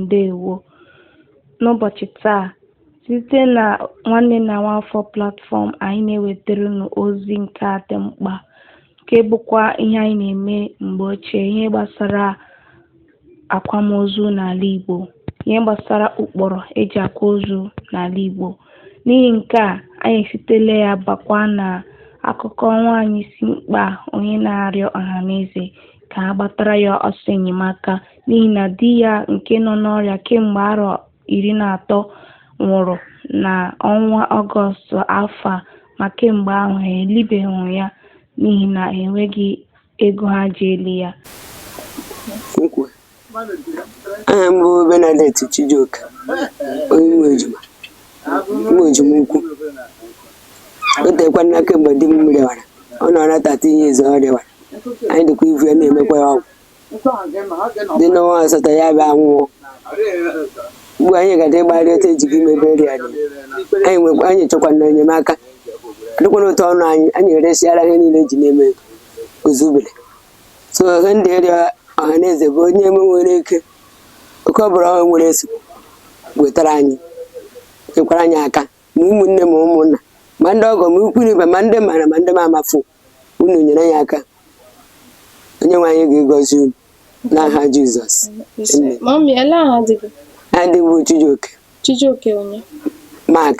Ndewo. N'ụbọchị taa, site na Nwanne na Nwaafọ Platform, anyị na-ewetara unu ozi nke a dị mkpa, nke bụkwa ihe anyị na-eme mgbe ochie, ihe gbasara akwamozu n'ala Igbo ihe gbasara ụkpụrụ e ji akwa ozu n'ala Igbo n'ihi nke a anyị esitela ya bakwa na akụkọ nwaanyị isi mkpe onye na-arịọ ọhaneze ka a gbatara ya ọsọ enyemaka n'ihi na di ya nke nọ n'ọrịa kemgbe arọ iri na atọ nwụrụ na ọnwa ọgọstụ afọ a ma kemgbe ahụ ha elibeghị ya n'ihi na enweghị ego ha ji eli ya Nkwe. Aha m bụ Bernadette Chijioke, onye nwe ejima ukwu. O teekwana kemgbe di m rịawara, ọ nọ na 13 years ọ rịawara. Anyị dịkwa ivu ya na-emekwa ya ọgwụ. Dị n'ọnwa asatọ ya bịa nwụọ. ugbu anyị ga-adị ịgbagharị otu eji gị mebe eri anyị anyị chọkwa na enyemaka adịkwana otu ọnụ anyị anyị eresiara ihe niile e ji na-eme ozubere so ihe m dị ịrịọ ọha na eze bụ onye eme nwere ike oke ọ bụla ọ nwere eso wetara anyị nyekwara anyị aka ma ụmụnne ma ụmụnna ma ndị ọgọ ma ikwu na ibe ma ndị m mara ma ndị m amafu unu nyere anyị aka onye nwe anyị ga-egọzi unu n'aha Jizọs amen adịbụ Chijioke Chijioke onye Mark